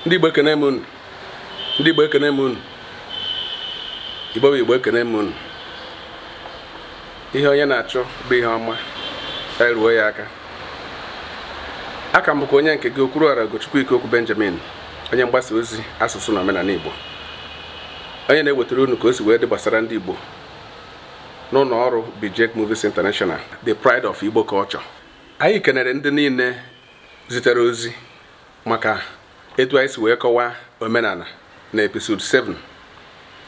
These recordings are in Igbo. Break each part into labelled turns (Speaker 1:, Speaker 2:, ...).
Speaker 1: ndị igbo ekene m unu ndị igbo ekene m unu igbo bụ igbo ekene m unu ihe onye na-achọ bụ ihe ọma eruo ya aka a ka m bụkwa onye nke gị Okwuruọra Ugochukwu Ikeokwu Benjamin onye mgbasa ozi asụsụ na omenala Igbo onye na-ewetara unu ka o si wee dị gbasara ndị Igbo n'ụlọ ọrụ Bijek Movies International the pride of Igbo culture anyị kenere ndị niile zitere ozi maka etu anyị si wee kọwaa omenala na episode 7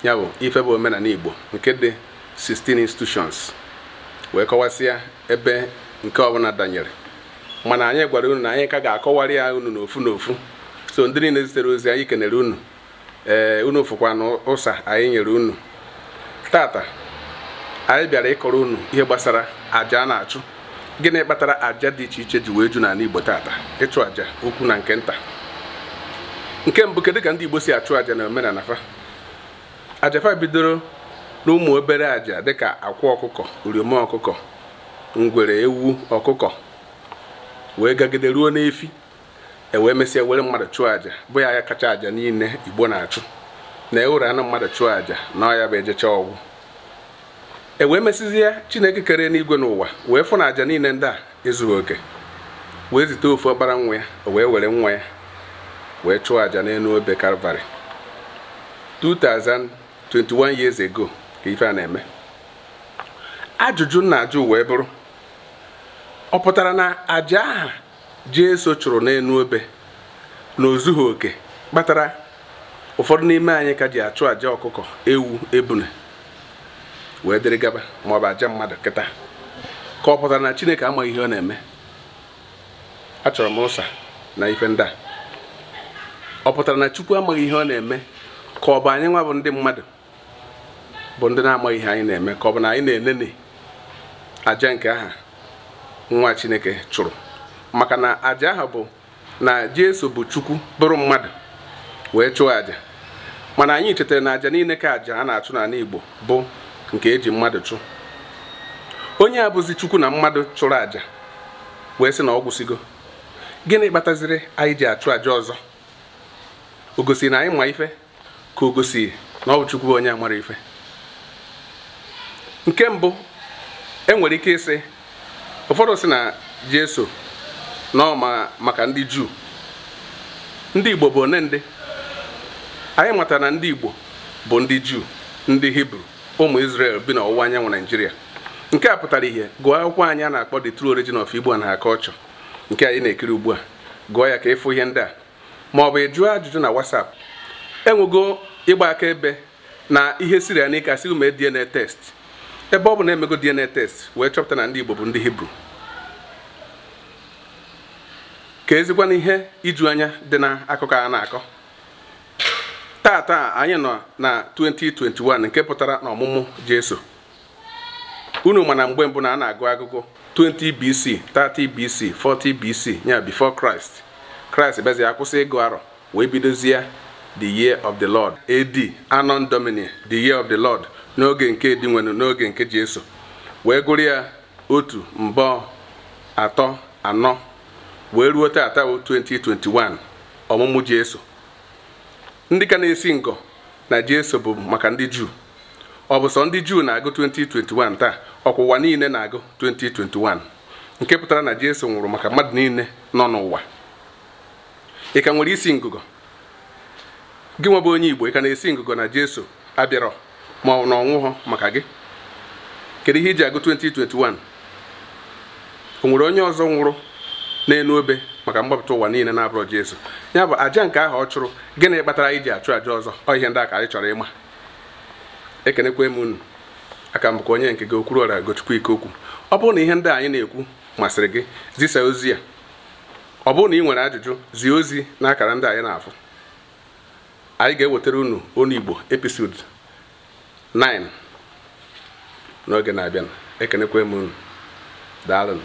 Speaker 1: ya bụ ife bụ omenala Igbo nke dị 16 institutions wee kọwasịa ebe nke ọbụla danyere mana anyị gwara unu na anyị ka ga-akọwara ya unu n'ofu n'ofu so ndị niile zitere ozi anyị kenere unu ee unu fụkwanụ ụsa anyị nyere unu tata anyị bịara ịkọrọ unu ihe gbasara aja a na-achụ gịnị kpatara aja dị iche iche ji wee ju n'ala Igbo tata ịchụ aja ukwu na nke nta nke mbụ kedu ka ndị Igbo si achụ aja na omenala fa aja fa bidoro n'ụmụ obere aja dịka akwa ọkụkọ uriom ọkụkọ ngwere ewu ọkụkọ wee gagide ruo n'efi e wee mesịa were mmadụ chụọ aja bụ ya ya kacha aja niile igbo na-achụ na e were anụ mmadụ chụọ aja na ọ ya bụ ejecha ọ gwụ e wee mesịzie chineke kere enigwe na ụwa wee fụ na aja niile ndị a ezughị oke wee zite ofu ọkpara nwa ya o wee were nwa ya wee chụọ aja n'elu obe kalvarị 2021 years ago ka ife a na-eme ajụjụ m na-ajụ wee bụrụ ọ pụtara na aja aha Jesu chụrụ n'elu obe na o zughị oke kpatara ụfọdụ n'ime anyị ka ji achụ aja ọkụkọ ewu ebune wee dịrị gaba ma ọ bụ aja mmadụ kịta ka ọ pụtara na Chineke amaghị ihe ọ na-eme achọrọ m ụsa na ife ndị a ọ pụtara na Chukwu amaghị ihe ọ na-eme ka ọ bụ anyị nwa bụ ndị mmadụ bụ ndị na-amaghị ihe anyị na-eme ka ọ bụ na anyị na-eneni aja nke aha nwa chineke chụrụ maka na aja ahụ bụ na jesu bụ chukwu bụrụ mmadụ wee chụọ aja mana anyị chetara na aja niile ka aja a na-achụ n'ala igbo bụ nke e ji mmadụ chụ onye a bụzi chukwu na mmadụ chụrụ aja wee sị na ọ gwụsịgo gịnị kpataziri anyị ji achụ aja ọzọ o gosi na anyị ma ife ka o gosi na ọ bụ Chukwu bụ onye amara ife nke mbụ e nwere ike ịsị ụfọdụ sị na Jesu na ọ maka ndị Juu ndị Igbo bụ one ndị anyị matara na ndị Igbo bụ ndị Juu ndị Hibru ụmụ Israel bi n'ọwụwa anyanwụ Naijiria nke a pụtara ihe gụọ akwụkwọ anyị a na-akpọ The True Origin of Igbo and Her Culture nke anyị na-ekiri ugbu a gụọ ya ka ị fụ ihe ndị a ma ọ bụ ị jụọ ajụjụ na WhatsApp e nwego ịgba akaebe na ihe siri ya n'ike a sị gị mee DNA test ebe ọ bụ na e mego DNA test wee chọpụta na ndị Igbo bụ ndị Hibru keezikwanụ ihe iju anya dị na akụkọ a na-akọ taata anyị nọ na 2021 nke pụtara na ọmụmụ Jesu unu ma na mgbe mbụ na a na-agụ agụgụ 20 BC 30 BC 40 BC ya before Christ Christ bịazie a kwụsị ịgụ arọ wee bidozie the year of the Lord AD Anno Domini the year of the Lord n'oge nke Dinwenu n'oge nke Jesu wee gụrụ ya otu abụọ atọ anọ wee ruo taata 2021 ọmụmụ Jesu ndị ka na-esi ngọ na Jesu bụ maka ndị Juu ọ bụ sọ ndị juu na-agụ 2021 taa ọ kwa ụwa niile na-agụ 2021 nke pụtara na jesu nwụrụ maka mmadụ niile nọ n'ụwa ị ka nwere isi ngụgọ gị nwa bụ onye igbo ị ka na-esi ngụgọ na jesu abịarọ ma ọ na ọ nwụhọ maka gị kedu ihe i ji agụ 2021 o nwere onye ọzọ nwụrụ n'elu obe maka mgbapụta ụwa niile na-abụrọ jesu ya bụ aja nke ahụ ọ chụrụ gịnị kpatara anyị ji achụ aja ọzọ ọ ihe ndị a ka anyị chọrọ ịma ekenekwaa m unu aka m bụkwa onye nke gị Okwuruọra Ugochukwu Ikeokwu ọ bụrụ na ihe ndị anyị na-ekwu masịrị gị zisa ozi ya ọ bụrụ na ị nwere ajụjụ zie ozi n'akara ndị a ị na-afụ anyị ga-ewetara unu onu igbo episode 9 n'oge na-abịa ekenekwaa m unu daalụnụ